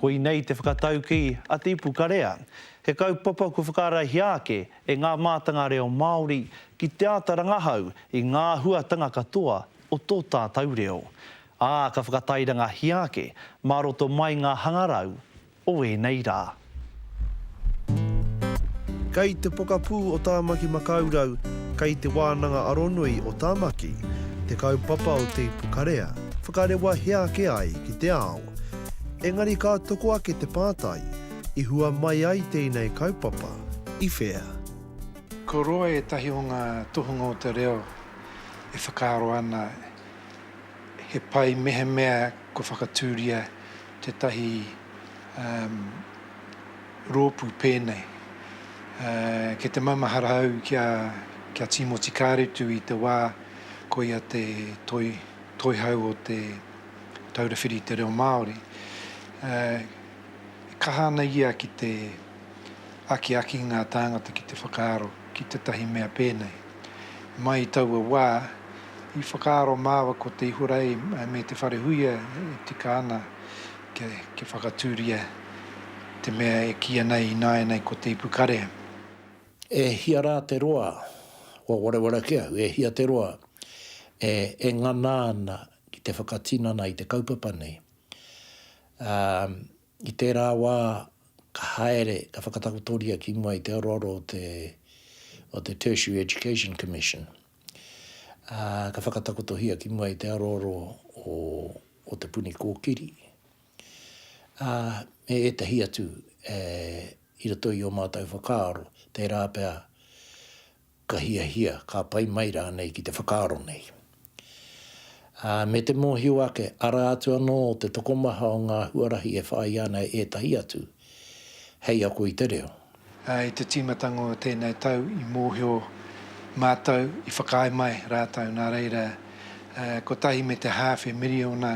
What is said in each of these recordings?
Koinei te whakataukī a Te Ipu Karea, he kaupapa kua whakaraihia ake e ngā mātanga reo Māori ki te āta rangahau i ngā huatanga katoa o tō tātau reo, ā, ka whakatairangahia ake mā roto mai ngā hangarau o ēnei rā. Kei te pokapū o Tāmaki Makaurau, kei Te Wānanga Aronui o Tāmaki, te kaupapa o Te Ipukarea, whakarewa hea ake ai ki te ao. Engari ka toko ake te pātai, i hua mai ai tēnei kaupapa, i whea? Ko roa ētahi o ngā tohunga o te reo e whakaaro ana he pai mehemea kua whakatūria tētahi roopu peenei ke te mamahara au kia kia Timoti Karetu i te waa koia te toi toihau o te Taura Whiri i te Reo Maaori e kaha ana ia ki te akiaki ngaa taangata ki te whakaaro ki tetahi mea peenei. Mai i taua waa i whakaaro maawa ko te Ihorei me te Wharehuia e tika ana kia whakatūria te mea e kīia nei ināianei ko te ipu karea. E hia rā te roa kua wareware ake au, e hia te roa e ngana ana ki te whakatinana i te kaupapa nei. Ā, i tērā wā ka haere, ka whakatakotoria ki mua i te aroaro o te Tertiary Education Commission, Ā, ka whakatakotohia ki mua i te aroaro o, o Te Puni Kōkiri, ā, me ētahi atu e, i roto i ō mātou whakaaro, tērā pea ka hiahia, ka pai mai rānei ki te whakaaro nei. Ā, me te mōhio ake, arā atu anō te tokomaha o ngā huarahi e whāia ana e ētahi atu, hei ako i te reo. I te tīmatanga o tēnei tau i mōhio mātou, i whakaae mai rātou nā reira kotahi me te hāwhe miriona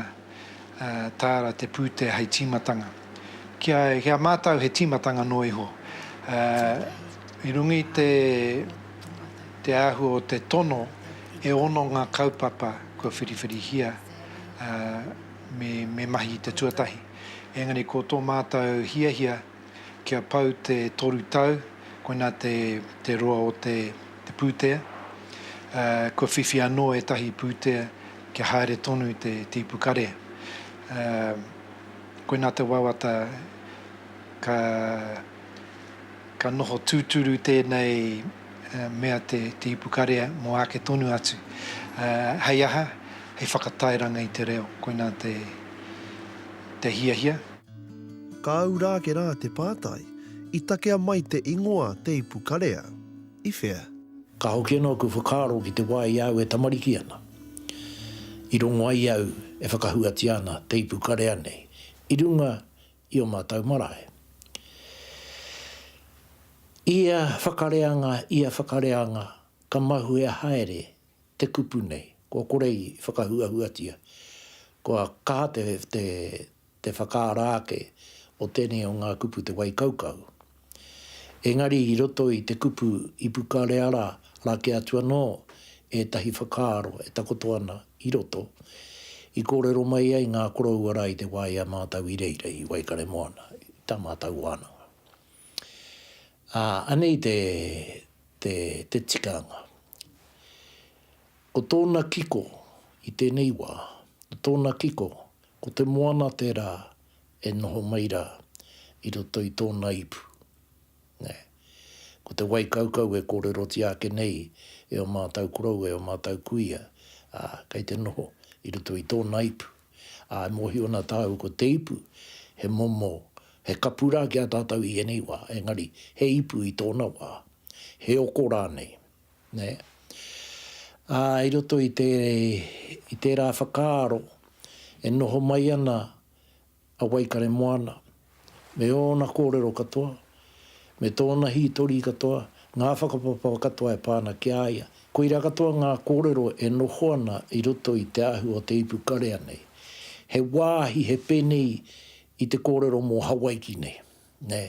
tāra te pūtea hei tīmatanga. Ki a mātou he tīmatanga noa iho. I runga i te āhua o te tono e ono ngā kaupapa kua whiriwhirihia me mahi i te tuatahi. Engari ko tō mātou hiahia kia pau te toru tau, koinā te roa o te pūtea, kua whiwhi anō ētahi pūtea kia haere tonu te tīpu karea. Koinā te wawata ka. Ka noho tūturu tēnei mea te ipukarea mō āke tonu atu. Hei aha? Hei whakatairanga i te reo, koinā te hiahia. Kāu rā ake rā te pātai, i takea mai te ingoa te ipukarea i whea? Ka hoki anō aku whakaaro ki te wā i a au e tamariki ana, i rongo ai au e whakahuatia ana te ipukarea nei i runga i ō mātou marae. Ia whakareanga, ia whakareanga, ka mahuea haere te kupu nei, kua kore i whakahuahuatia, kua kaha te whakaara ake o tēnei o ngā kupu te waikaukau, Engari i roto i te kupu ipukareara rā kē atu anō ētahi whakaaro e takoto ana i roto, i kōrero mai ai ngā koroua rā i te wā i a mātau i reira i Waikaremoana, i tā mātau wānanga. Ā, anei te, te, te tikanga. Ko tōna kiko i tēnei wā, ko tōna kiko Ko te moana tērā e noho mai rā i roto i tōna ipu. Nē. Ko te wai kaukau e kōrerotia ake nei e ō mātou korou, e ō mātou kuia, ā, kei te noho i roto i tōna ipu. Ā, e mōhio ana tāu ko te ipu he momo, he kapu rā ki a tātou i ēnei wā, engari he ipu i tōna wā, he oko rānei. Nē? Ā, i roto i te, i tērā whakaaro e noho mai ana a Waikaremoana, me ōna kōrero katoa, me tōna hītori katoa, ngā whakapapa katoa e pā ana ki a ia, koirā katoa ngā kōrero e noho ana i roto i te ahu o te ipu karea nei. He wāhi, he pēnei i te kōrero mō Hawaiki nei. Nē.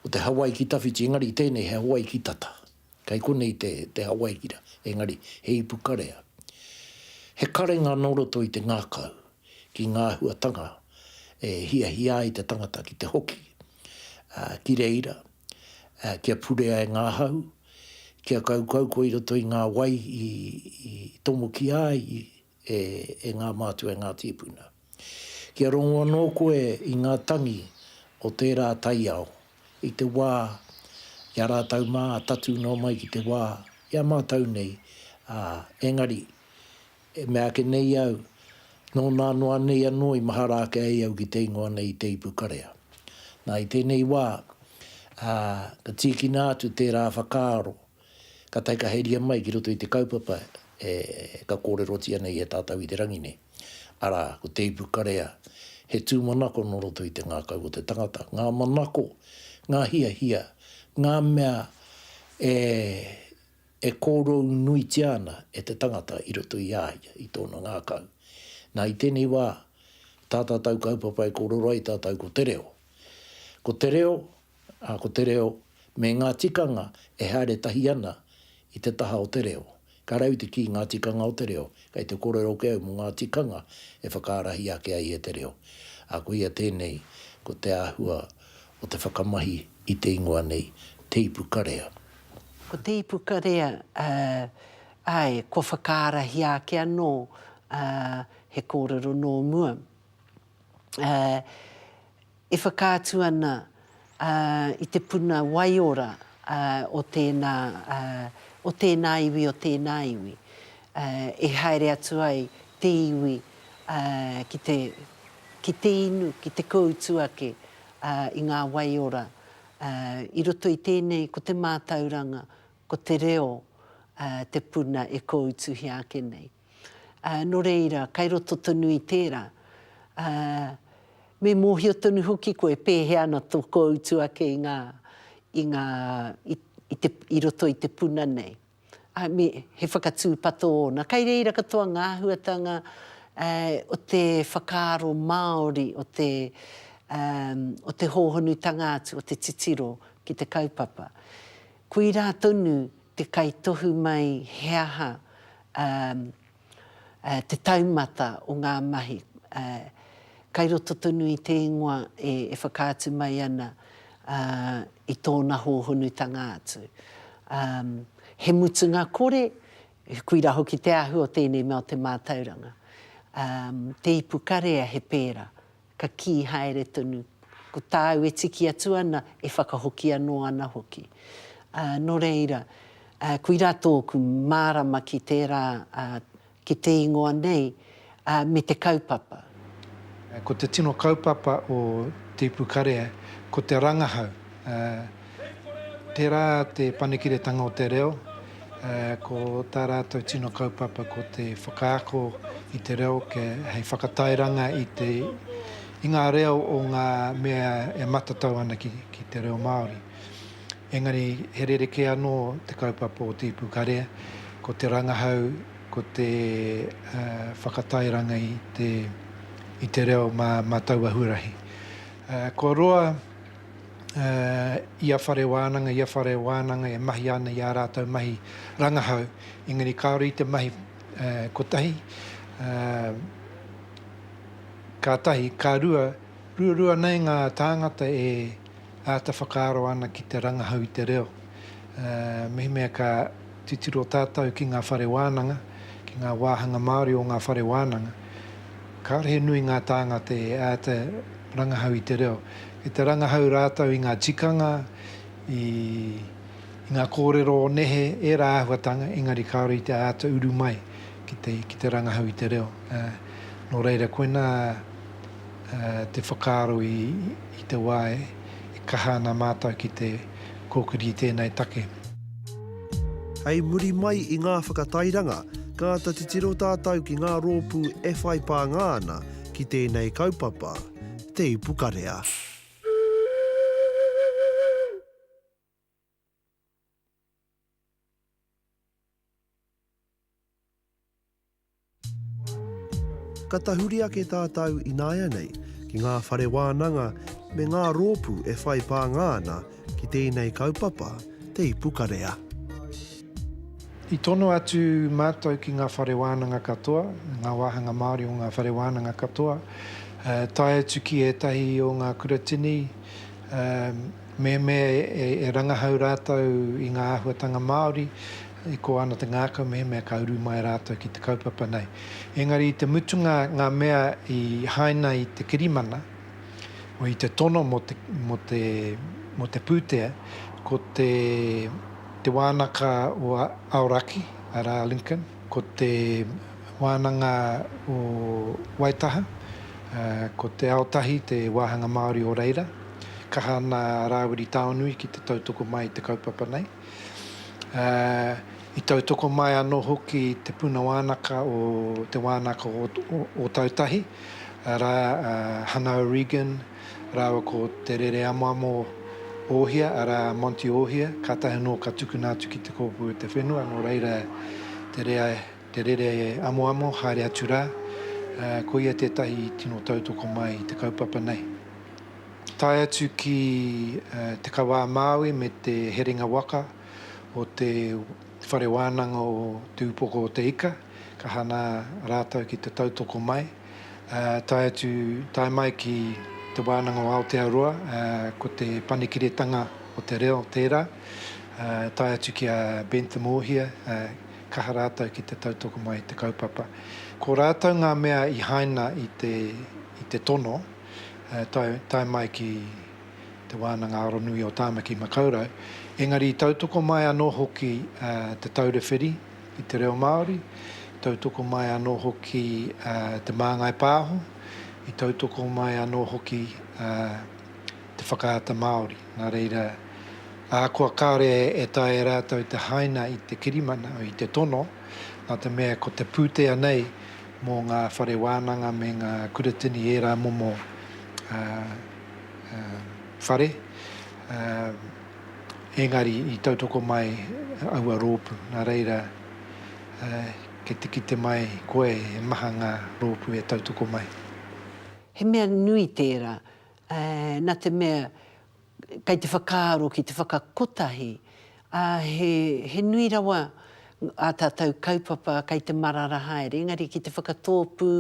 Ko te Hawaiki tawhiti, engari tēnei he Hawaiki tata. Kei konei te, te Hawaiki rā, engari he ipu karea. He karenga nō roto i te ngākau ki ngā āhuatanga e hiahia ai te tangata ki te hoki, ā, ki reira, ā, kia purea e ngā hau, kia kaukau koe i roto i ngā wai i, i tomokia ai, i, e ngā mātua, e ngā tīpuna. Kia rongo anō koe i ngā tangi o tērā taiao i te wā i a rātou mā, tatū noa mai ki te wā i a mātou nei, ā, engari, meāke nei au, nō nā noa nei anō i mahara ake ai au ki te ingoa nei i te ipu karea. Nā, i tēnei wā, ā, ka tīkina atu tērā whakaaro, Ka taikaheria mai ki roto i te kaupapa e ka kōrerotia nei e tātau i te rangi nei, arā, ko Te Ipu Karea, he tūmanako nō roto i te ngākau o te tangata, ngā manako, ngā hiahia, ngā mea e e kōrou nuitia ana e te tangata i roto i a ia, i tōna ngākau. Nā, i tēnei wā, tā tātau kaupapa e kōrero ai tātau ko te reo. Ko te reo, Ā, ko te reo me ngā tikanga e haere tahi ana i te taha o te reo. Ka rahi te kī ngā tikanga o te reo, kei te kōrero ake au mō ngā tikanga e whakaarahi ake ai e te reo. Ā, koia tēnei, ko te āhua o te whakamahi i te ingoa nei, Te Ipu Karea. Ko Te Ipu Karea, ā, āe, kua whakaarahi ake anō, ā, he kōrero nō mua. Ā. E whakaatu ana i te puna waiora o tēnā, o tēnā iwi, o tēnā iwi, e haere atu ai te iwi ki te, ki te inu, ki te kōutu ake i ngā waiora. I roto i tēnei, ko te mātauranga, ko te reo te puna e kōutuhia ake nei. Nō reira, kei roto tonu i tērā, me mōhio tonu hoki koe pēhea ana tō kōutu ake i ngā, i ngā, i te, i roto i te puna nei. Ā, me, he whakatūpato ōna. Kei reira katoa ngā āhuatanga o te whakaaro Māori, o te, o te hōhonutanga atu, o te titiro ki te kaupapa. Koirā tonu te kaitohu mai he aha te taumata o ngā mahi kai roto tonu i te ingoa e whakaatu mai ana i tōna hōhonutanga atu. He mutunga kore, koirā hoki te āhua o tēnei mea o te mātauranga. Te ipu karea he pērā, Ka kī haere tonu, Ko tāu e tiki atu ana, e whakahoki anō ana hoki. Ā, nō reira, ā, koirā tōku mārama ki tērā, ā, ki te ingoa nei, ā, me te kaupapa. Ā, ko te tino kaupapa o Te Ipukarea, ko te rangahau, ā. Tērā te panekiretanga o te reo, ko tā rātou tino kaupapa ko te whakaako i te reo hei whakatairanga i ngā reo o ngā mea e matatau ana ki te reo Māori. Engari he rerekē anō te kaupapa o te ipu karea, ko te rangahau, ko te whakatairanga i te reo mā taua huarahi. Kua roa. ia whare wānanga, ia whare wānanga e mahia ana i ā rātou mahi rangahau, engari kāore i te mahi kotahi, ka tahi, ka rua, ruarua nei ngā tāngata e āta whakaaro ana ki te rangahau i te reo, mehemea ka. Titiro tātou ki ngā whare wānanga, ki ngā wāhanga Māori o ngā whare wānanga. Kāore he nui ngā tāngata e āta rangahau i te reo. Kei te rangahau rātou i ngā tikanga, i ngā kōrero o nehe, ērā āhuatanga, engari kāore i te āta uru mai ki te, ki te rangahau i te reo. Nō reira, koinā te whakaaro i te wā e kaha ana mātou ki te. kōkiri i tēnei take. Hei muri mai i ngā whakatairanga, ka āta titiro tātou ki ngā rōpū e whai pānga ana ki tēnei kaupapa, Te Ipukarea. Ka tahuri ake tātou ināianei ki ngā whare wānanga me ngā rōpū e whai pānga ana ki tēnei kaupapa, Te Ipukarea. I tono atu mātou ki ngā whare wānanga katoa, ngā wāhanga Māori o ngā whare wānanga katoa, tae atu ki ētahi o ngā kuratini, mehemea e rangahau rātou i ngā āhuatanga Māori e kō ana te ngākau mehemea ka uru mai rātou ki te kaupapa nei. Engari i te mutunga ngā mea i haina i te kirimana, o i te tono mō te mō te mō te pūtea, ko te te wānaka o Aoraki, arā Lincoln, Ko te wānanga o Waitaha, ko Te Aotahi te wāhanga Māori o reira. Kaha ana a Rāwiri Taonui ki te tautoko mai i te kaupapa nei. I tautoko mai anō hoki Te Puna Wānaka o Te Wānaka o Ōtautahi, arā a Hana O'Regan, rāua ko Te Rere Amoamo Ōhia, arā, Monty Ōhia, kātahi anō ka tukuna atu ki Te Kōpū o te Whenua, nō reira, Te Rere Amoamo, haere atu rā, ko ia tētahi i tino tautoko mai i te kaupapa nei. Tae atu ki te kawa a Māui me te herenga waka o te Whare Wānanga o Te Upoko o te Ika, ka hangā rātou ki te tautoko mai. tae atu, tae mai ki Te Wānanga o Aotearoa, ko te panekiretanga o te reo tērā, tae atu ki a Bentham Ohia, kaha rātou ki te tautoko mai i te kaupapa. Ko rātou ngā mea i haina i te i te tono, tae tae mai ki Te Wānanga Aronui o Tāmaki Makaurau, engari i tautoko mai anō hoki Te Taura Whiri, i te reo Māori, i tautoko mai anō hoki te māngai pāho, i tautoko mai anō hoki te whakaata Māori. Nā reira, ahakoa kāore e taea e rātou te haina i te kirimana, i te tono, nā te mea ko te pūtea nei mō ngā whare wānanga me ngā kuratini ērā momo whare, Engari i tautoko mai aua rōpū, nā reira kei te kite mai koe he maha ngā rōpū e tautoko mai. He mea nui tērā, nā te mea kei te whakaaro ki te whakakotahi, ā, he nui rawa ā tātou kaupapa kei te marara haere, engari ki te whakatōpū,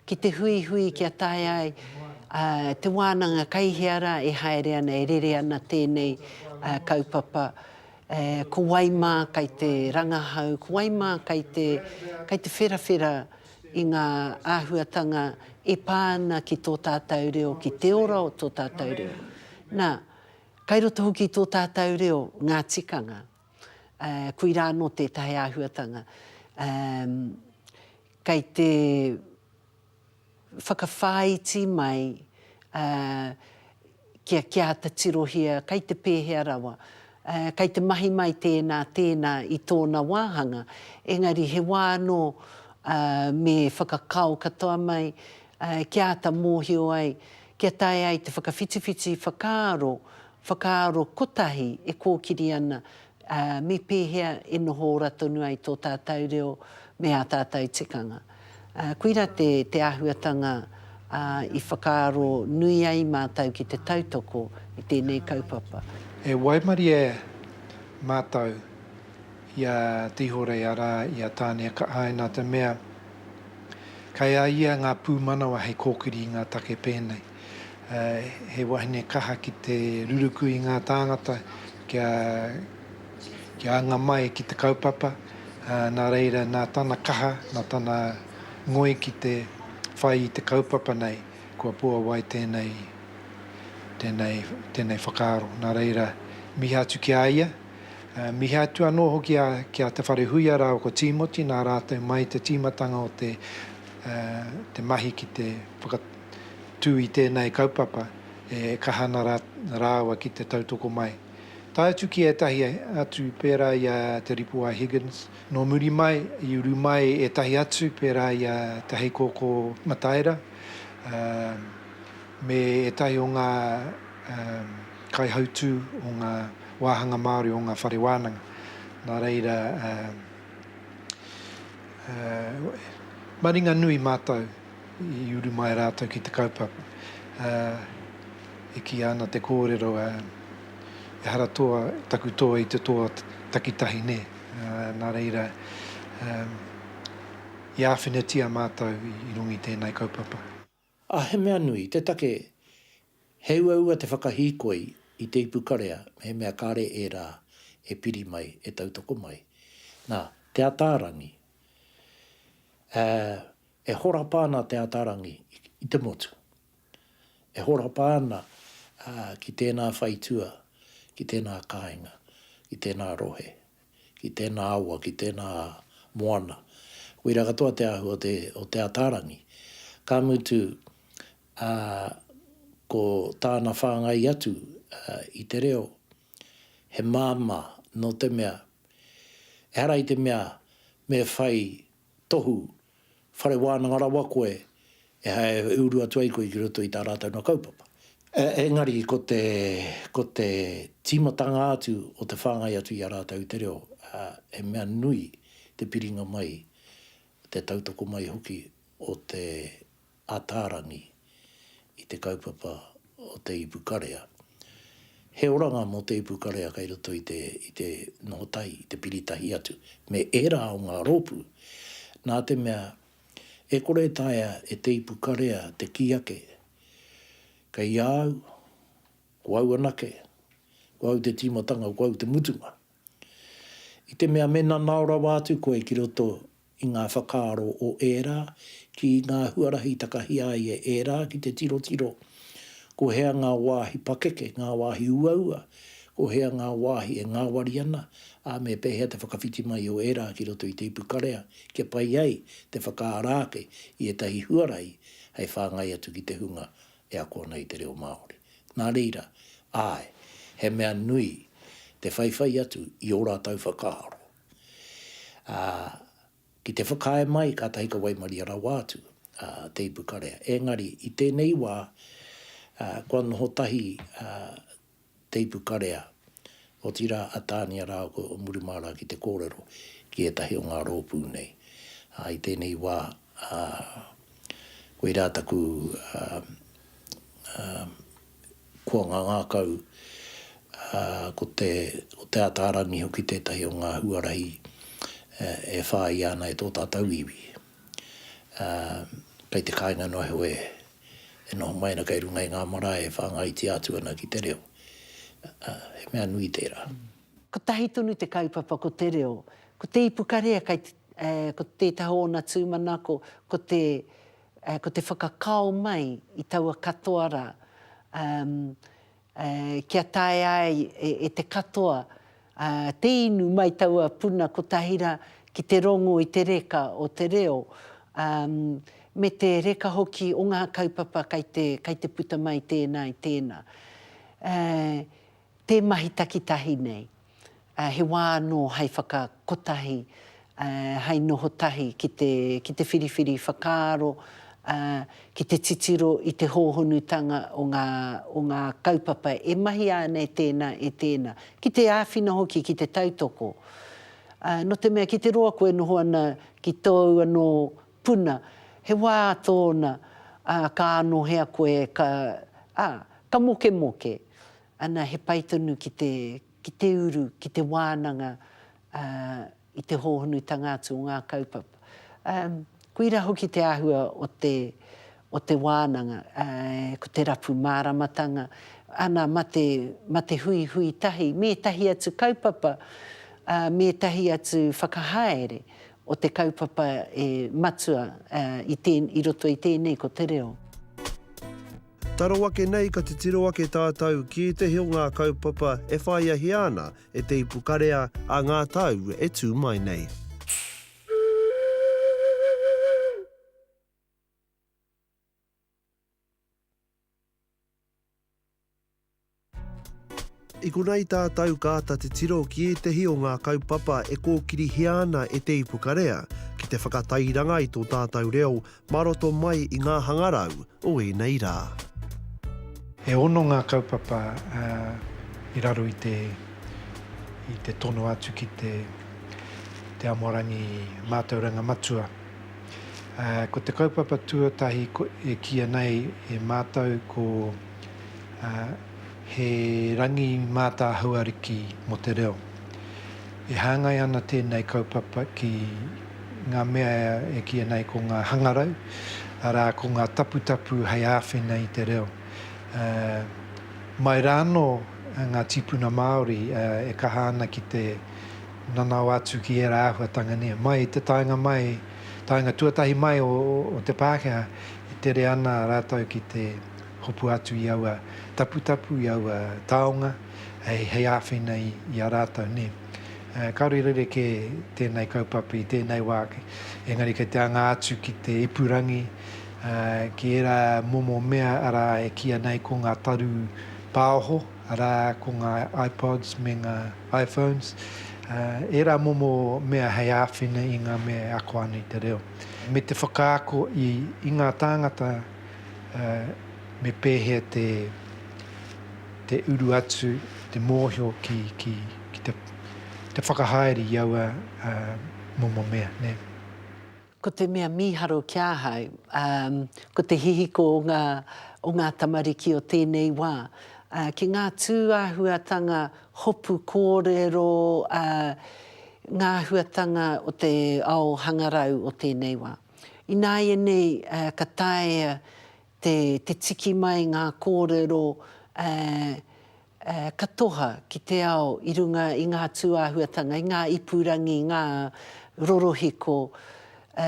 ki te huihui kia taea ai te wānanga kei hea rā e haere ana, e rere ana tēnei kaupapa, ko wai mā kei te rangahau, ko wai mā kei te, kei te wherawhera i ngā āhuatanga e pā ana ki tō tātou reo, ki te ora o tō tātou reo. Nā, kei roto hoki i tō tātou reo ngā tikanga. koirā anō tētahi āhuatanga kei te whakawhāiti mai kia kia āta tirohia kei te pēhea rawa, kei te mahi mai tēnā, tēnā i tōna wāhanga, engari he wā anō me whakakao katoa mai kia āta mōhio ai, kia taea ai te whakawhitiwhiti whakaaro Whakaaro kotahi e kōkiri ana, ā, me pēhea e noho ora tonu ai tō tātou reo me ā tātou tikanga. Ā, koirā te, te āhuatanga, ā, i whakaaro nui ai mātou ki te tautoko i tēnei kaupapa. E waimarie mātou i a Tihorei, arā, i a Tāneakaae, nā te mea, kei a ia ngā pūmanawa hei kōkiri i ngā take pēnei. he wahine kaha ki te ruruku i ngā tāngata kia kia anga mai ki te kaupapa, nā reira nā tana kaha, nā tana ngoi ki te whai i te kaupapa nei, kua puawai tēnei tēnei tēnei whakaaro. Nā reira, mihi atu ki a ia, mihi atu anō hoki a ki a Te Wharehuia rāua ko Tīmoti nā rātou mai te tīmatanga o te te mahi ki te whaka tū i tēnei kaupapa e kaha ana rāua ki te tautoko mai. Tae atu ki ētahi atu pērā i a Te Ripu I Higgins, nō muri mai i uru mai ētahi atu pērā i a Te Heikōkō Mataira me ētahi o ngā kaihautū o ngā wāhanga Māori o ngā whare wānanga. Nā reira, he maringa nui mātou. I uru mai rātou ki te kaupapa, ā, e kīia ana te kōrero, ā, ehara toa taku toa i te toa takitahi nē, ā, nā reira, ā, i āwhinatia mātou i runga i tēnei kaupapa. Ā, he mea nui te take he uaua te whakahīkoi i te ipu karea mehemea kāre ērā e piri mai, e tautoko mai. Nā, Te Ataarangi, ā, E horapa ana Te Ataarangi i te motu. E horapa ana ki tēnā whaitua, ki tēnā kāinga, ki tēnā rohe, ki tēnā awa, ki tēnā moana. Koira katoa te āhua o Te Ataarangi. Ka mutu, ko tāna whāngai atu i te reo, he māmā nō te mea, ehara i te mea me whai Tohu, whare wānanga rawa koe, ehara e uru atu ai koe ki roto i tā rātou nā kaupapa. Engari ko te, ko te tīmatanga atu o te whāngai atu i a rātou i te reo, he mea nui te piringa mai, te tautoko mai hoki o te Ataarangi i te kaupapa o te ipu karea. He oranga mō te ipu karea kei roto i te i te noho tahi, i te piri tahi atu me ērā o ngā rōpū, nā te mea e kore e taea e te ipu karea te kī ake, Kei a au, ko au anake, ko au te tīmatanga, ko au te mutunga. I te mea me nanao rawa atu koe ki roto i ngā whakaaro o ērā, ki ngā huarahi takahia ai e ērā ki te tirotiro ko hea ngā wāhi pakeke, ngā wāhi uaua, ko hea ngā wāhi e ngāwari ana, ā, me pēhea te whakawhiti mai o ērā ki roto i te ipukarea kia pai ai te whakaara ake i ētahi huarahi hei whāngai atu ki te hunga e ako ana i te reo Māori. Nā reira, āe, he mea nui te whaiwhai atu i ō rātou whakaaro. Ā, ki te whakaae mai kātahi ka waimaria rawa atu a Te Ipukarea. Engari, i tēnei wā, ā, kua noho tahi a Te Ipukarea, otirā a Tānia rāua ko Murumārā ki te kōrero ki ētahi o ngā rōpū nei. Ā, i tēnei wā, ā, koirā taku, ā, ā, Kua ngangakau, ā, ko te, ko Te Ataarangi hoki tētahi o ngā huarahi e whāia ana e tō tātou iwi. Ā, kei te kāinga noa iho e, e noho mai ana kei runga i ngā marae e whāngaitia atu ana ki te reo. Ā, he mea nui tērā. Kotahi tonu te kaupapa ko te reo. Ko te ipukarea kei te, ē, ko tētahi o ōna tūmanako, ko te, Ko te whakakao mai i taua katoa ra, kia taea ai e te katoa te inu mai taua puna kotahi ra ki te rongo i te reka o te reo, me te reka hoki o nga kaupapa kai te puta mai tena i tena. Te mahi takitahi nei, he wā anō hai whakakotahi, hai noho tahi ki te whiriwhiri whakaaro, ki te titiro i te hōhonutanga o ngā kaupapa e mahia ana e tēnā, e tēnā. Ki te āwhina hoki ki te tautoko. Nō te mea ki te roa koe noho ana ki tōu anō Puna, he wā tōna, ā, ka anohea koe, ka, ā, ka mokemoke. Ana, he pai tonu ki te, ki te uru, ki te wānanga, ā, i te hōhonutanga atu o ngā kaupapa. Ā, koira hoki te āhua o te, o te wānanga, ā, ko te rapu māramatanga, ana, ma te, ma te huihui tahi, me ētahi atu kaupapa, ā, me ētahi atu whakahaere o te kaupapa e matua i roto i tēnei ko te reo. Taro ake nei ka titiro ake tātou ki ētehi o ngā kaupapa e whāiahia ana e te ipukarea a ngā tau e tū mai nei. I konei tātou ka āta titiro ki ētehi o ngā kaupapa e kōkirihia ana e Te Ipukarea ki te whakatairanga i tō tātou reo mā roto mai i ngā hangarau o ēnei rā. E ono ngā kaupapa i raro i te i te tono atu ki te Amorangi Mātauranga Matua. Ko te kaupapa tuatahi e kīia nei e mātou ko He Rangi Mātāhau Ariki mō te Reo. E hāngai ana tēnei kaupapa ki ngā mea e kīia nei ko ngā hangarau, arā, ko ngā taputapu hei āwhina i te reo. Mai rānō ngā tīpuna Māori e kaha ana ki te nanao atu ki ērā āhuatanga nei. Mai i te taenga mai, taenga tuatahi mai o, o te Pākehā, e tere ana rātou ki te hopu atu i aua taputapu, i aua taonga, hei, hei āwhina i, i a rātou nei. E, kāore i rerekē tēnei kaupapa i tēnei wā, engari kei te anga atu ki te ipurangi, e, ki ērā momo mea, arā, e kīia nei ko ngā taru pāoho, arā, ko ngā iPods me ngā. iPhones, ā, ērā momo mea hei āwhina i ngā mea e ako ana i te reo, me te whakaako i, i ngā tāngata, ā, me pēhea te, te uru atu, te mōhio ki, ki, ki te, te whakahaere i aua, ā, momo mea, nē. Ko te mea mīharo ki ahau, ā, ko te hihiko o ngā, o ngā tamariki o tēnei wā, ā, ki ngā tūāhuatanga hopu kōrero, ā, ngā āhuatanga o te ao hangarau o tēnei wā. Ināianei, ā, ka taea te, te tiki mai ngā kōrero, ā, Ā, ka toha ki te ao i runga i ngā tūāhuatanga, i ngā ipurangi, ngā rorohiko, ā,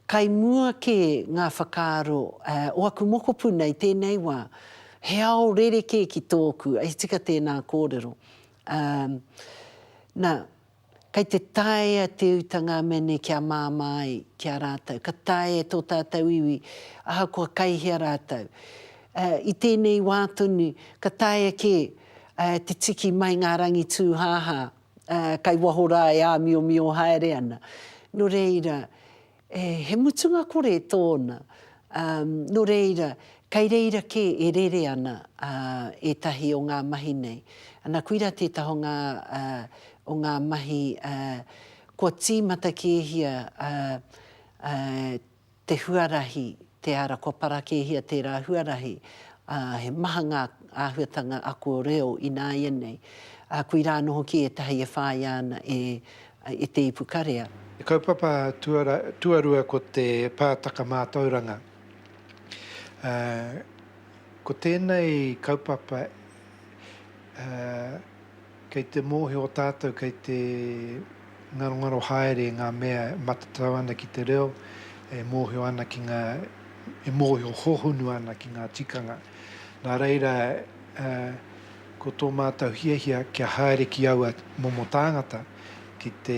kai mua kē ngā whakaaro, ā, o aku mokopuna i tēnei wā, he ao rerekē ki tōku, hei tika tēnā kōrero. Ā, nā, Kei te taea te uta ngā mea nei kia māmā ai ki a rātou, ka taea e tō tātou iwi, ahakoa kai hea rātou. I tēnei wā tonu, ka taea kē te tiki mai ngā rangi tūhāhā kai waho rā e āmiomio haere ana. Nō reira, E, he mutunga kore tōna. Ā, nō reira, kei reira kē e rere ana, ā, ētahi o ngā mahi nei. Ana, koirā tētahi o ngā, ā, o ngā mahi, ā, kua tīmata kēhia, ā, ā, te huarahi, te ara, kua para kēhia tērā huarahi. Ā, he maha ngā āhuatanga ako reo ināianei. Ā, koirā anō hoki ētahi e whāia ana e I te ipu karea. Te kaupapa tuarua ko te pātaka mātauranga. Ko tēnei kaupapa kei te mōhio tātou kei te ngarongaro haere ngā mea e matatau ana ki te reo, e mōhio ana ki ngā, e mōhio hohonu ana ki ngā tikanga. Nā reira. Ko tō mātou hiahia kia haere ki aua momo tāngata ki te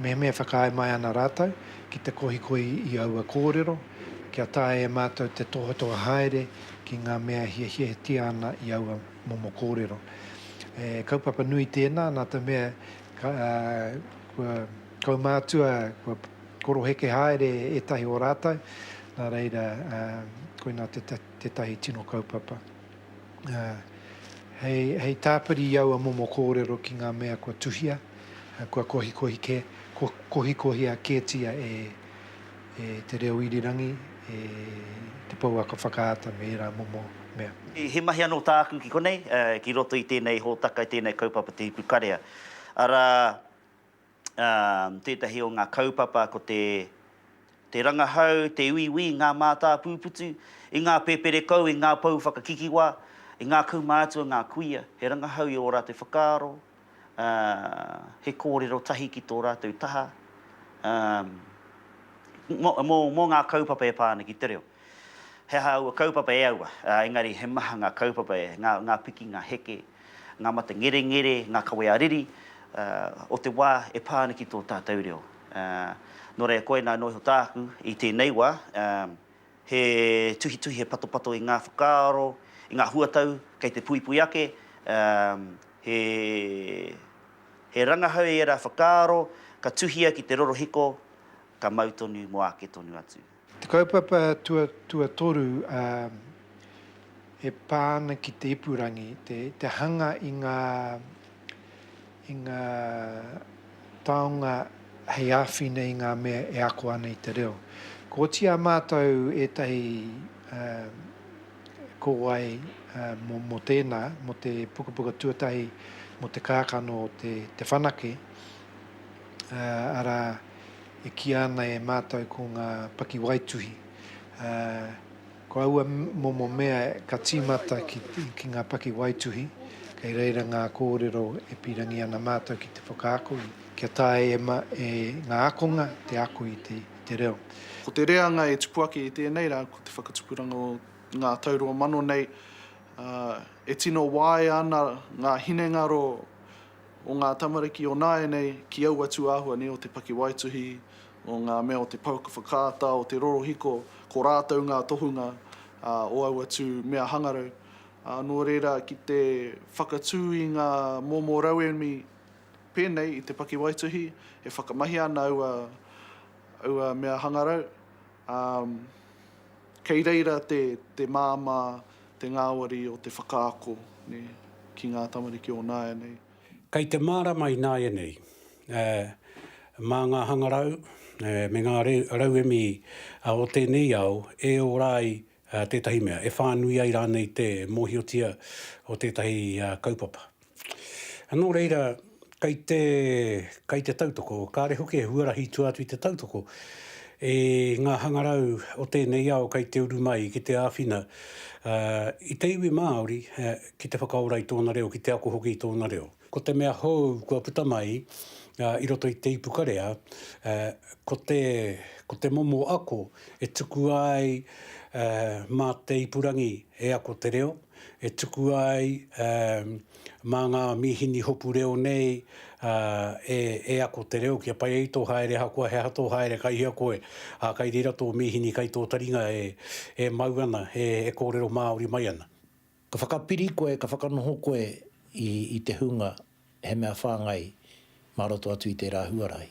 mehemea e whakaae mai ana rātou ki te kohikohi i aua kōrero, kia taea e mātou te tohatoha haere ki ngā mea e hiahiatia ana i aua momo kōrero. He kaupapa nui tēnā nā te mea kua kaumātua, kua koroheke haere ētahi o rātou, nā reira koinā tētahi tino kaupapa. ā, hei, hei tāpiri i aua momo kōrero ki ngā mea kua tuhia, kua kohikohi kē, kua kohikohia kētia e, e te reo irirangi, e te pouaka whakaata me ērā momo mea. He mahi anō tāku ki konei, ki roto i tēnei hōtaka, i tēnei kaupapa Te Ipu Karea, arā, tētahi o ngā kaupapa ko te te rangahau, te uiui i ngā mātāpūputu, i ngā pēperekou, i ngā pou whakakikiwa, i ngā kaumātua, ngā kuia, he rangahau i ō rātou whakaaro, he kōrero tahi ki tō rātou taha mō ngā kaupapa e pā ana ki te reo. He aha aua kaupapa e aua, engari he maha ngā kaupapa, ngā piki, ngā heke, ngā mate ngerengere, ngā kawe ā-riri o te wā e pā ana ki tō tātou reo. Nō reira, koinā anō iho tāku i tēnei wā, he tuhituhi, he patopato i ngā whakaaro, i ngā huatau kei te puipui ake, he rangahau i ērā whakaaro ka tuhia ki te rorohiko, ka mau tonu mō āke tonu atu. Te kaupapa tuatoru e pā ana ki te ipurangi, te hanga i ngā i ngā taonga hei āwhina i ngā mea e ako ana i te reo. Ka oti ā mātou ētahi kōwae mō tēnā, mō te pukapuka tuatahi mō te kākano o Te Whanake, arā. e kīa ana e mātou ko ngā pakiwaituhi, ā, ko aua momo mea ka tīmata ki, ki ngā pakiwaituhi, kei reira ngā kōrero e pīrangi ana mātou ki te whakaako i, kia taea e, ma, e ngā ākonga te ako i te, i te reo. Ko te reanga e tupu ake i tēnei rā ko te whakatupuranga o ngā tau rua mano nei, ā, e tino waea ana ngā hinengaro, o ngā tamariki o nāianei ki aua tūāhua nei o te pakiwaituhi, o ngā mea o te pouaka whakaata, o te rorohiko, ko rātou ngā tohunga o aua tū mea hangarau. Nō reira, ki te whakatū i ngā momo rauemi pēnei i te pakiwaituhi, e whakamahia ana aua mea hangarau, ā, kei reira te māmā, te ngāwari o te whakaako ki ngā tamariki o nāianei. Kei te mārama i nāianei, ā, mā ngā hangarau me ngā rauemi o tēnei ao e ora ai ā, tētahi mea e whānui ai rānei te mōhiotia o tētahi kaupapa. Nō reira, kei te, kei te tautoko, kāre hoki e huarahi tua atu i te tautoko i ngā hangarau o tēnei ao kei te uru mai ki te āwhina i te iwi Māori ki te whakaora i tōna reo, ki te ako hoki i tōna reo. Ko te mea hou kua puta mai i roto i te ipu karea, ko te, ko te momo ako e tukua ai mā te ipurangi e ako te reo, e tukua ai mā ngā mīhini hopu reo nei e ako te reo, kia pai ai tō haere ahakoa he aha tō haere kai hea koe, ā, kai reira tō mīhini kai tō taringa e mau ana, e kōrero Māori mai ana. Ka whakapiri koe, ka whakanoho koe i, i te hunga he mea whāngai mā roto atu i tērā huarahi.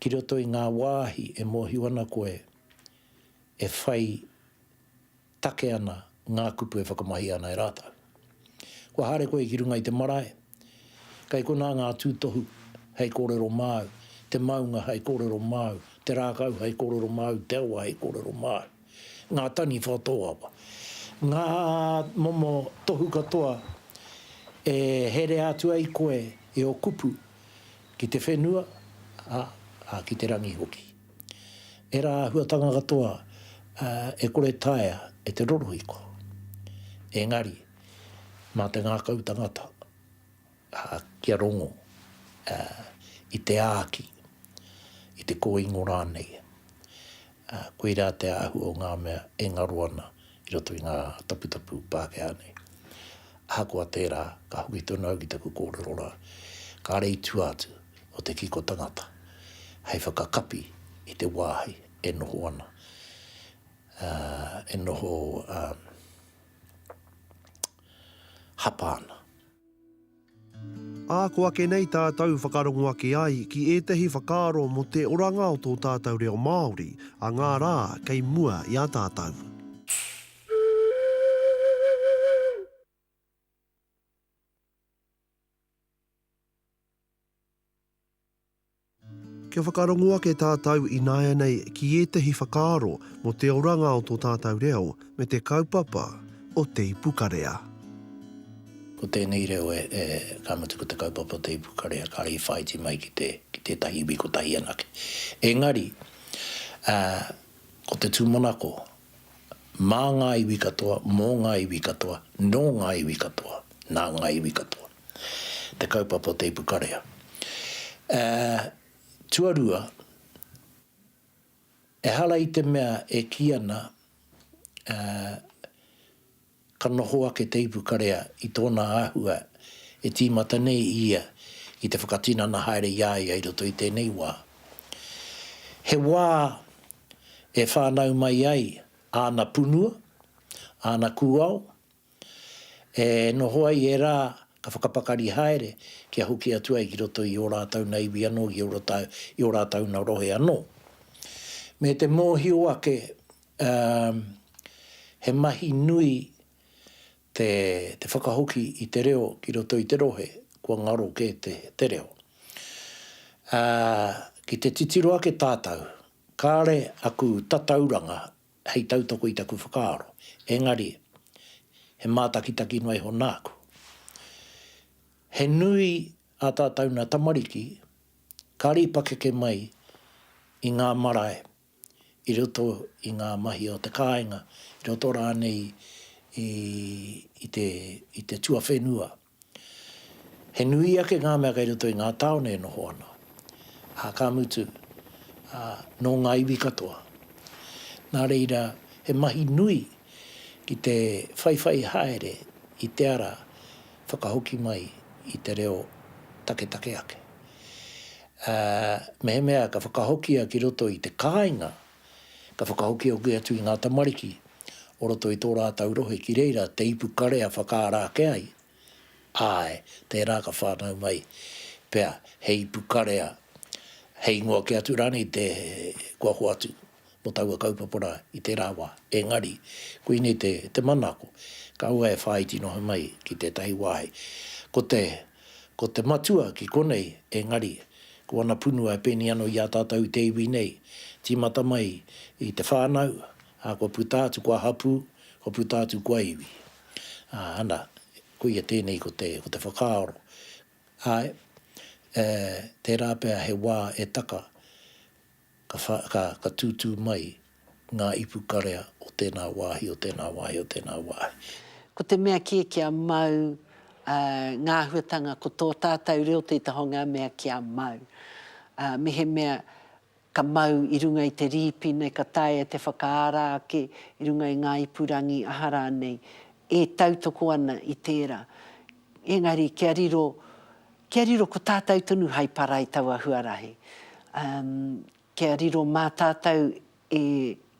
Ki roto i ngā wāhi e mōhio ana koe e whai take ana ngā kupu e whakamahia ana e rātou. Kua haere koe ki runga i te marae, kei konā ngā tūtohu hei kōrero māu, te maunga hei kōrero māu, te rākau hei kōrero māu, te awa hei kōrero māu. ngā taniwha tōawa, ngā momo tohu katoa e herea atu ai koe i ō kupu ki te whenua, ā, ki te rangi hoki. Ērā āhuatanga katoa e kore taea e te rorohiko, engari, mā te ngākau tangata. kia rongo i te āki, i te kōingo rānei, koirā te āhua o ngā mea e ngaro ana i roto i ngā taputapu Pākehā nei. Ahakoa tērā, ka hoki tonu au ki taku kōrero rā, kāre i tua atu o te kiko tangata hei whakakapi i te wāhi e noho ana, e noho hapa ana. Ā, ko ake nei tātou whakarongo ake ai ki ētahi whakaaro mō te oranga o tō tātou reo Māori a ngā rā kei mua i a tātou. Kia whakarongo ake tātou ināianei ki ētahi whakaaro mō te oranga o tō tātou reo me te kaupapa o Te Ipukarea. Ko tēnei reo e, e, ka mutu ko te kaupapa o Te Ipukarea kāre i whāiti mai ki te, ki tētahi iwi kotahi anake. Engari, ā, ko te tūmanako, mā ngā iwi katoa, mō ngā iwi katoa, nō ngā iwi katoa, nā ngā iwi katoa. te kaupapa o Teipu Karea. Ā, tuarua, ehara i te mea e kī ana, ā, ka noho ake Teipu Karea i tōna āhua e tīmata nei i ia ki te whakatinana haere i a ia i roto i tēnei wā. He wā e whānau mai ai āna punua, āna kūao, E noho ai e rā, ka whakapakari haere, kia hoki atu ai ki roto i ō rātou nā iwi anō, ki ō rātou, i ō rātou nā rohe anō. Me te mōhio ake, ā, he mahi nui te, te whakahoki i te reo ki roto i te rohe, kua ngaro kē te, te reo. Ā, ki te titiro ake tātou, kāre aku tatauranga hei tautoko i taku whakaaro, engari, he mātakitaki noa iho nāku. He nui ā tātou nā tamariki ka rīpakeke mai i ngā marae i roto i ngā mahi o te kāinga, i roto rānei i te tuawhenua. He nui ake ngā mea kei roto i ngā tāone e noho ana, ā, ka mutu, ā, nō ngā iwi katoa. Nā reira, he mahi nui ki te whaiwhai haere i te ara whakahoki mai i te reo taketake ake. Ā, mehemea ka whakahokia ki roto i te kāinga Ka whakahokihoki atu i ngā tamariki o roto i tō rātou rohe ki reira te ipu kare a whakaara ake ai, āe, tērā ka whānau mai pea he ipu karea, he ingoa kē atu rānei te kua hoatu mō taua kaupapa rā i tērā wā. Engari, koinei te manako, kāua e whāiti noa mai ki tētahi wāhi, ko te Ko te Matua ki konei, engari, ko ana punua e pēnei anō i a tātou i te iwi nei, tīmata mai i te whānau, ā, kua puta atu kua hapū, kua puta atu kua iwi. Ā, ana, koia tēnei ko te, ko te whakaaro. Āe, e, tērā pea he wā e taka, ka tūtū mai ngā ipu karea o tēnā wāhi, o tēnā wāhi, o tēnā wāhi. Ko te mea kē kia mau ngā āhuatanga ko tō tātau reo te taha o ngā mea kia mau. Mehemea ka mau i runga i te rīpi nei ka taea e te whakaara ake i runga i ngā ipurangi aha rānei e tautoko ana i tērā. Engari kia riro, kia riro ko tātou tonu hai para i taua huarahi. Umm, kia riro mā tātou e,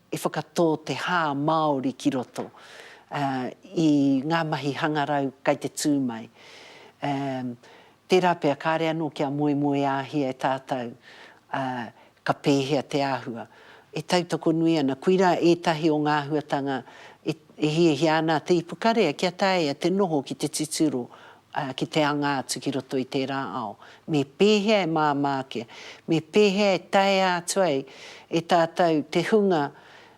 e whakatō te hā Māori ki roto, uh, i ngā mahi hangarau kai te tū mai. Umm, tērā pea kāre anō kia moemoeāhia e tātou, uh, Ka pēhea te āhua? E tautoko nui ana, koirā ētahi o ngā āhuatanga e hiahia ana a te ipukarea kia taea te noho ki te titiro, ā, ki te anga atu ki roto i tērā ao. Me pēhea e māmā ake? Me pēhea e taea atu ai e tātou te hunga,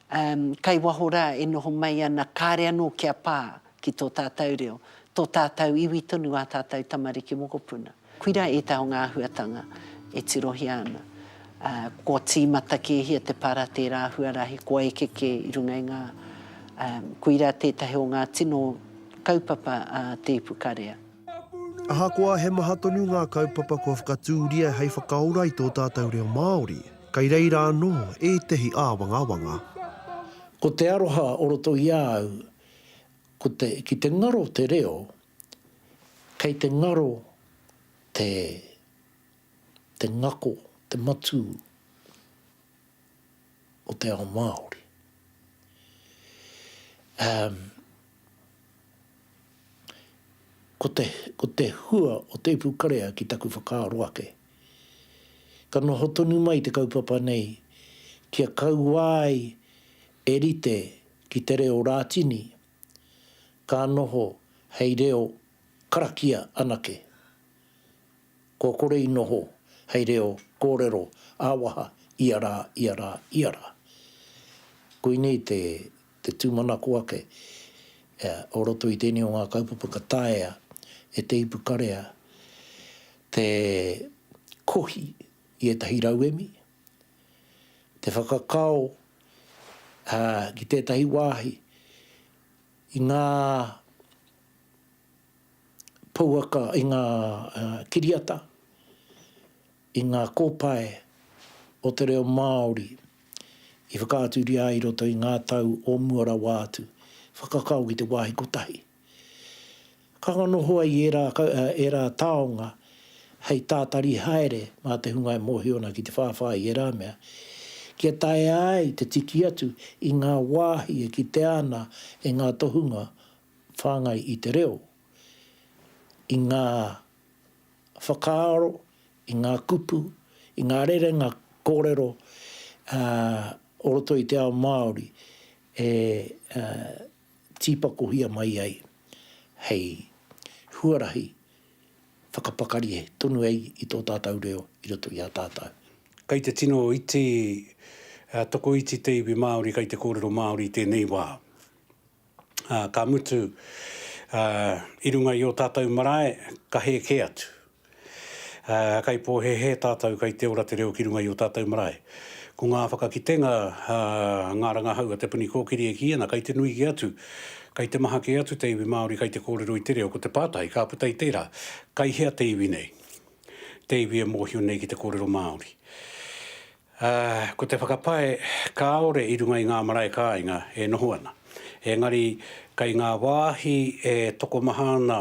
ā, kai waho rā e noho mai ana kāre anō kia pā ki tō tātou reo, tō tātou iwi tonu ā tātou tamariki mokopuna? Koira ētahi o ngā āhuatanga e tirohia ana. Kua tīmata kēhia te para tērā huarahi kua eke kē i runga i ngā Koira tētahi o ngā tino kaupapa a Te Ipukarea. Ahakoa he maha tonu ngā kaupapa kua whakatūria hei whakaora i tō tātou reo Māori, kei reira anō ētahi āwangawanga. Ko te aroha o roto i a au, ko te, ki te ngaro te reo, Kei te ngaro te te ngako, te matū o te ao Māori. Umm ko te ko te hua o Te Ipu Karea ki taku whakaaro ake, ka noho tonu mai te kaupapa nei kia kauā ai e rite ki te reo Rātini, ka noho hei reo karakia anake. Kua kore i noho hei reo kōrero ā-waha ia rā, ia rā, ia rā. Koinei te tūmanako ake o roto i tēnei o ngā kaupapa ka taea e te ipukarea te kohi i ētahi rauemi, te whakakao ki tētahi wāhi i ngā pouaka, i ngā kiriata, i ngā kōpae o te reo Māori i whakaaturia ai i roto i ngā tau o mua rawa atu, whakakao ki te wāhi kotahi. Ka nohoa i ērā, ērā taonga hei tātari haere mā te hunga e mōhio ana ki te whāwhā i ērā mea, kia taea ai te tiki atu i ngā wāhi e kitea ana e ngā tohunga whāngai i te reo, i ngā whakaaro, i ngā kupu, i ngā rerenga kōrero o roto i te ao Māori e tīpakohia mai ai hei huarahi whakapakari tonu ai i tō tātau reo i roto i a tātau. Kei te tino iti tokoiti te iwi Māori kei te kōrero Māori i tēnei wā, ā, ka mutu, ā, i runga i ō tātau marae ka hē kē atu. Ā, kei pōhēhē tātou, kei te ora te reo ki runga i ō tātou marae. Ko ngā whakakitenga, ā, ngā rangahau a Te Puni Kōkiri e kī ana, kei te nui kē atu, kei te maha kē atu te iwi Māori kei te kōrero i te reo. Ko te pātai ka puta i tērā, kei hea te iwi nei, te iwi e mōhio nei ki te kōrero Māori? Ā, ko te whakapae kāore i runga i ngā marae kāinga e noho ana. Engari, kei ngā wāhi e tokomaha ana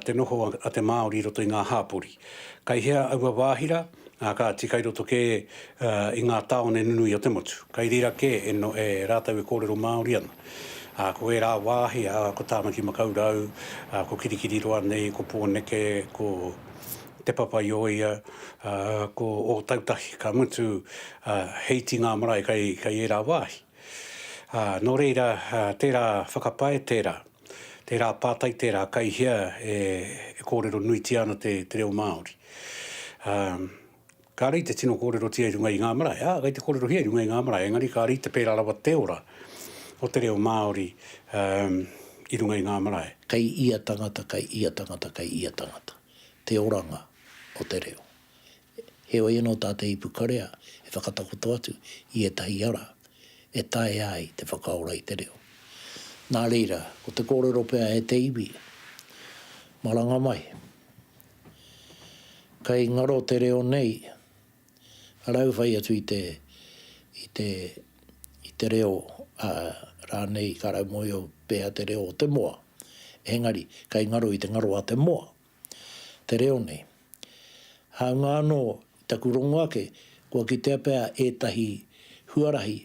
te noho a te Māori i roto i ngā hapori. Kei hea aua wāhi rā? Kāti, kei roto kē i ngā tāone nunui o te motu. Kei reira kē e rātou e kōrero Māori ana. Ā, ko ērā wāhi, ko Tāmaki Makaurau, ko Kirikiriroa nei, ko Pōneke, ko Te Papaioea, ko Ōtautahi ka mutu hei ti ngā marae kei ērā wāhi. Nō reira, tērā whakapae tērā, tērā pātai tērā kei hea e kōrero nuitia ana te reo Māori. Kāre i te tino kōrerotia i runga i ngā marae, ā, kei te kōrerohia i runga i ngā marae, engari kāre i te pērā rawa te ora o te reo Māori i runga i ngā marae. Kei ia tangata, kei ia tangata, kei ia tangata. te oranga o te reo. Heoi anō tā te ipukarea e whakatakoto atu i ētahi ara e taea ai te whakaora i te reo. Nā reira, ko te kōrero pea e te iwi, Maranga mai, kei ngaro te reo nei, rau whai atu i te, i te, i te reo, ā, rānei ka raumohio pea te reo o te moa. Engari, kei ngaro i te ngaro a te moa, te reo nei. Hāunga anō, i taku rongo ake, kua kitea pea ētahi huarahi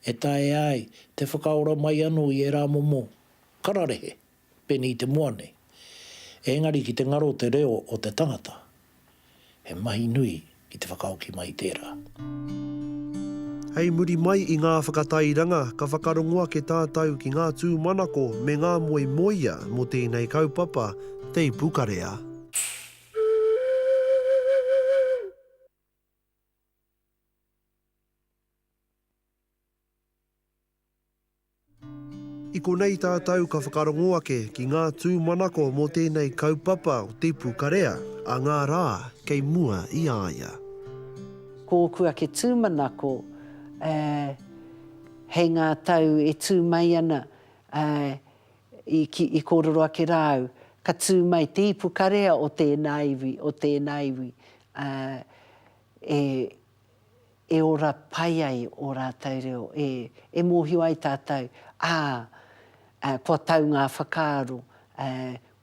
e taea ai te whakaora mai anō i ērā momo kararehe. Pēnei i te moa nei. Engari ki te ngaro te reo o te tangata, he mahi nui ki te whakahoki mai i tērā. Hei muri mai i ngā whakatairanga, ka whakarongo ake tātou ki ngā tūmanako me ngā moemoeā mō tēnei kaupapa teipu karea. I konei tātou ka whakarongo ake ki ngā tūmanako mō tēnei kaupapa o te pukarea a ngā rā kei mua i a ia. Ko ōku ake tūmanako, hei ngā tau e tū mai ana, i kōrero ake rā au, ka tū mai te ipukarea o tēnā iwi, o tēnā iwi, e. e ora pai ai ō rātou reo, e, e mōhio ai tātou, ā, ā, kua tau ngā whakaaro, ā,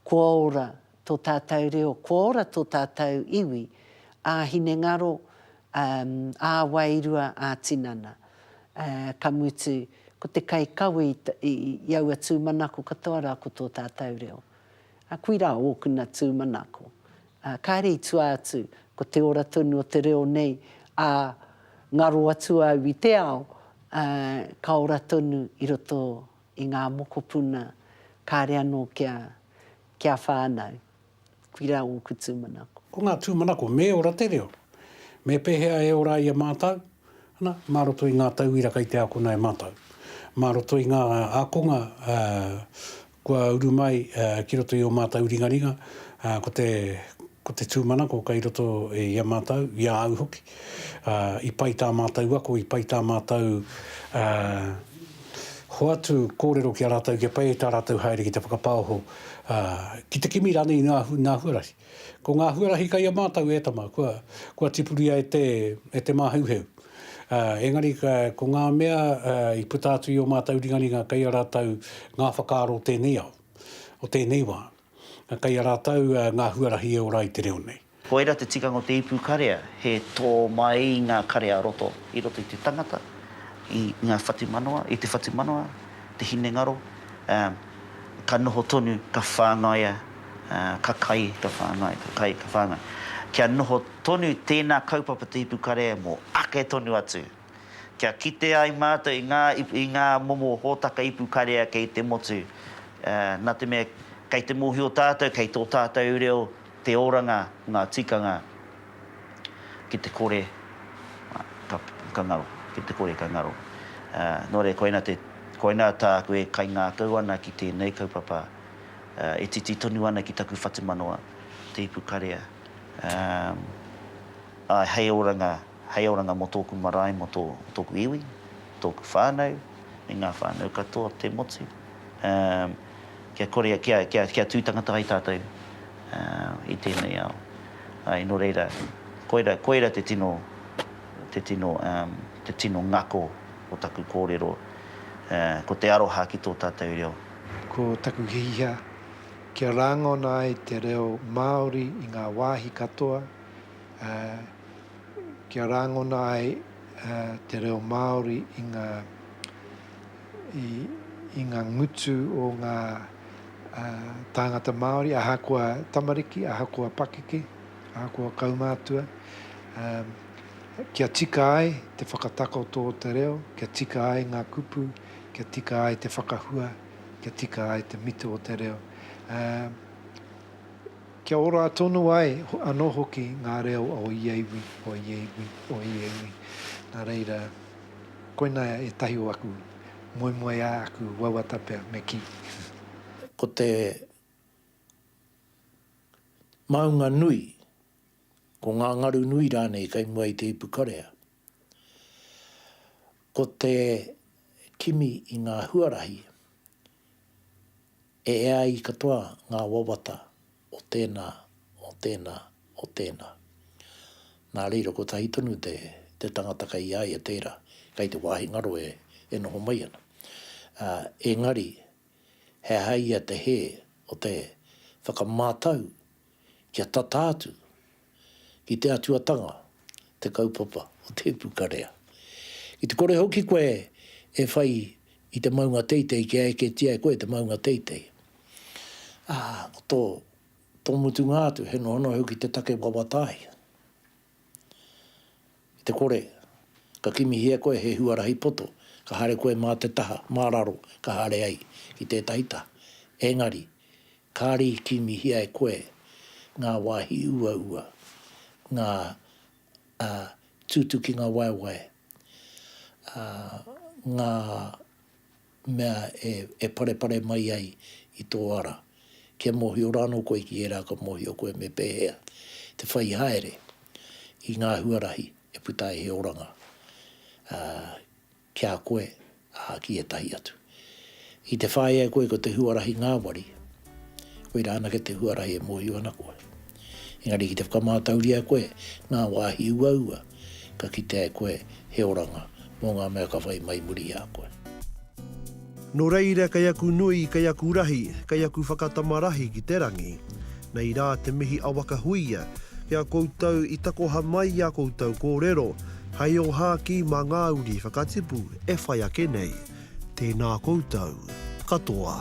kua ora tō tātou reo, kua ora tō tātou iwi, ā-hinengaro, ā, ā-wairua, ā-tinana. Ā, ka mutu, ko te kaikawe i, i, i aua tūmanako katoa rā ko tō tātou reo. Ā, koirā ōkuna tūmanako, Ā, kāre i tua atu, ko te ora tonu o te reo nei, ā, ngaro atu au i te ao, ā, ka ora tonu i roto i ngā mokopuna, kāre anō kia, kia whānau. Koirā ōku tūmanako. Ko ngā tūmanako, me ora te reo. Me pēhea e ora ai e mātou? Ana, mā roto i ngā tauira kei te ākona e mātou. Mā roto i ngā ākonga, ā, Kua uru mai ki roto i ō mātou ringaringa, ko te, ko te tūmanako kei roto i a mātou, i a au hoki. I pai tā mātou ako, i pai tā mātou hoatu kōrero ki a rātou, kia pai ai tā rātou haere ki te whakapaoho, ki te kimi rānei i ngā, ngā huarahi. Ko ngā huarahi kei a mātou e tama, kua, kua tipuria e te, e te māheuheu. Ā, engari ka, ko ngā mea, ā, i puta atu i ō mātou ringaringa kei a rātou ngā whakaaro o tēnei ao, o tēnei wā. Kei a rātou ngā huarahi e ora ai te reo nei. Koira te tikanga o te ipu karea, he tō mai i ngā karea roto, i roto i te tangata, i ngā whatumanawa, i te whatumanawa, te hinengaro, ā, ka noho tonu, ka whāngaia, ā, ka kai, ka whāngai, ka kai, ka whāngai, kia noho. Tonu tēnā kaupapa Te Ipu Karea mō ake tonu atu, kia kite ai mātou i ngā, i ngā momo hōtaka ipu karea kei te motu, nā te mea kei te mōhio tātou kei tō tātou reo te oranga o ngā tikanga ki te kore ka ngaro, ki te kore ka ngaro. Nō reira koina te, koina tāku e kaingākau ana ki tēnei kaupapa e titi tonu ana ki taku whatumanawa, Te Ipu Karea. Ā, āe, hei oranga, hei oranga mō tōku marae, mō tō, tōku iwi, tōku whānau, me ngā whānau katoa o te motu, ā, kia kore, kia, kia, kia tū tangata ai tātou, ā, i tēnei ao. Āe, nō reira, koira, koira te tino, te tino, ā, te tino ngako o taku kōrero, ā, ko te aroha ki tō tātou reo. Ko taku hiha, Kia rāngona ai te reo Māori i ngā wāhi katoa, ā, kia rāngona ai te reo Māori i ngā, i, i ngā ngutu o ngā tāngata Māori, ahakoa tamariki, ahakoa pakeke, ahakoa kaumātua, ā, kia tika ai te whakatakoto o te reo, kia tika ai ngā kupu, kia tika ai te whakahua. kia tika ai te mito o te reo, ā, kia ora tonu ai anō hoki ngā reo o ia iwi, o ia iwi, o ia iwi. Nā reira, koinā ētahi o aku moemoeā, aku wawata pea me kī. Ko te maunga nui, ko ngā ngaru nui rānei kei mua i te ipu karea, Ko te kimi i ngā huarahi, e ea ai katoa ngā wawata o tēnā, o tēnā, o tēnā. Nā reira, kotahi tonu te tangata kei a ia tērā, kei te wāhi ngaro e noho mai ana. Engari, he aha ia te hē o te whakamātau? kia tata atu ki te atuatanga te kaupapa o te ipukarea. Ki te kore hoki koe e whai i te maunga teitei kia eketia e koe te maunga teitei, ā, ko tō, tō mutunga atu he nohonoho ki te take wawatahi. Ki te kore, ka kimihia e koe he huarahi poto, ka haere koe mā te taha, mā raro, ka haere ai ki tētahi taha. Engari, Kāre i kīngihia e koe ngā wāhi uaua, ngā, ā, tūtukinga waewae, ā, ngā mea e, e parepare mai ai i tō ara. Kia mōhio rānō koe ki ērā ka mōhio koe me pēhea te whai haere i ngā huarahi e puta ai he oranga, ā, Ki a koe, ā, ki ētahi atu. Ki te whāia e koe ko te huarahi ngāwari, koirā anake te huarahi e mōhio ana koe. Engari ki te whakamātauria e koe ngā wāhi uaua ka kitea e koe he oranga mō ngā mea ka whai mai muri i a koe. Nō reira kei aku nui, kei aku rahi, kei aku whakatama rahi ki te rangi. Nei rā te mihi a Wakahuia ki a koutou i takoha mai i a koutou kōrero hei ohākī mā ngā uri whakatipu e whai ake nei. Tēnā koutou katoa.